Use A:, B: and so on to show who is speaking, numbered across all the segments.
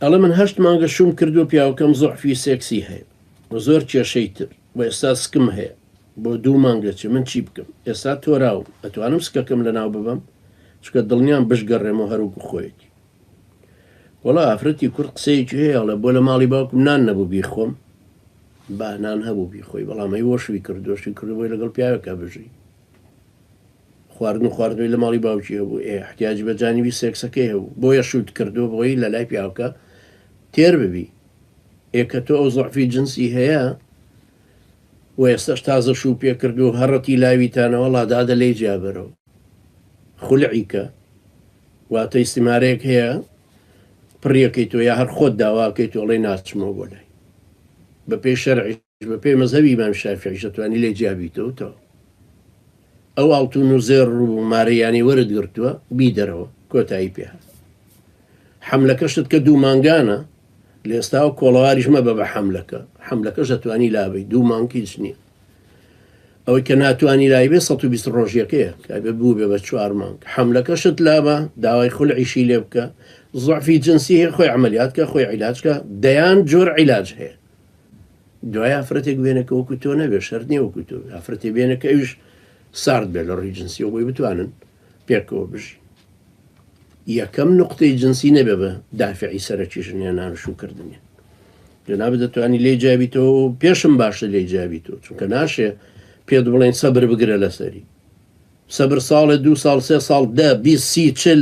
A: ئەڵێ من هەشت مانگە شووم کردووە پیاوەکەم زوعفی سێکسی هەیە و زۆر کێشەی تر و ئێستا سکم هەیە بۆ دوو مانگ دەچێ من چی بکەم ئێستا تۆراوم ئەتوانم سکەکەم لەناو ببەم چونکە دڵنیام بشگەڕێمەوە هەر وەکو خۆیەتی وەڵا ئافرەتی کورد قسەیەکی هەیە ئەڵێ بۆ لە ماڵی باوکم نان نەبوو بیخۆم بانان هەبوو بیخۆی بەڵام ئەی وەشوی کردوەشی کردبووی لەگەڵ پیاوێکا بژی خواردن و خواردنەوەی لە ماڵی باوکی هەبوو ئێ احتیاجی بە جانیبی سێکسەکەی هەبوو بۆیە شووت کردووە بۆی لە لای پیاوکە تێر ببی ئێ کە تۆ ئەو زەعفی جنسی هەیە و ئێستاش تازە شوو پێ کرد و هەڕەتی لاویتانەوە ڵادادە لێی جیابەرەوە خولعی کە واتە ئیسیمارەیەک هەیە پڕیەکەی تۆ یا هەر خۆت داواکەی تۆڵی ناچمەوە بۆ لای بە پێی شەرعی بە پێی مەزهەبی ئیمام شافیعیش ئەتوانی لێ جیا بیتەوە تەو ئەو ئاڵتون و زێر ڕوو و مارەیانی وەرت گرتووە بی دەرەوە کۆتایی پێ هات حملەکەشت کە دوو مانگانە لە ئێستاوە کۆڵەواریش مەبە بە حملەکە حملەکەش دەتوانی لابی دوو مانکی چ نییە ئەوەی کە ناتوانانی لای بێ 120 ڕۆژیەکەیە کابێ بوو بێ بە چوار مانگ حملەکەشت لابە داوای خول عیشی لێ بکە زعفی جنسی هەیە خۆی عملیات کە خۆی عیلاجکە دەیان جۆر عیلاج هەیە دوای ئافرەتێک بێنە کە وەکو تۆ نەبێ شەر نیە وەکو تۆ ئافرەتی بێنە کە ئەوش سارد بێ لە ڕووی جنسیەوە بۆی بتوانن پێکەوە بژی یەکەم نقطەی جنسی نەبێ بە دافعی سەرەکی ژنێنان شوکردنی جناب دەتوانانی لێ جیابی تۆ پێشم باشە لێ جیابی تۆ چونکە ناشێ پێت بڵێن سەبر بگرە لەسەری سەبر ساڵێ دو ساڵ سێ ساڵ دە بی سی چل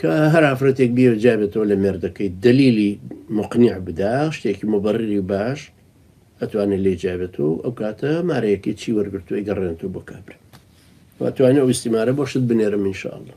A: کە هەر ئافرەتێک بیەوێت جیا بێتەوە لە مێردەکەی دەلیلی موقنیع بدا، شتێکی موبەڕری باش، ئەتوانێت لێی جیا بێت و ئەو کاتە مارەیەکەی چی وەرگرتووە ئەیگەڕێنێتەوە بۆ کابرا و ئەتوانێت ئەو ئیستیمارە بۆ شت بنێرم ان شاء اللە.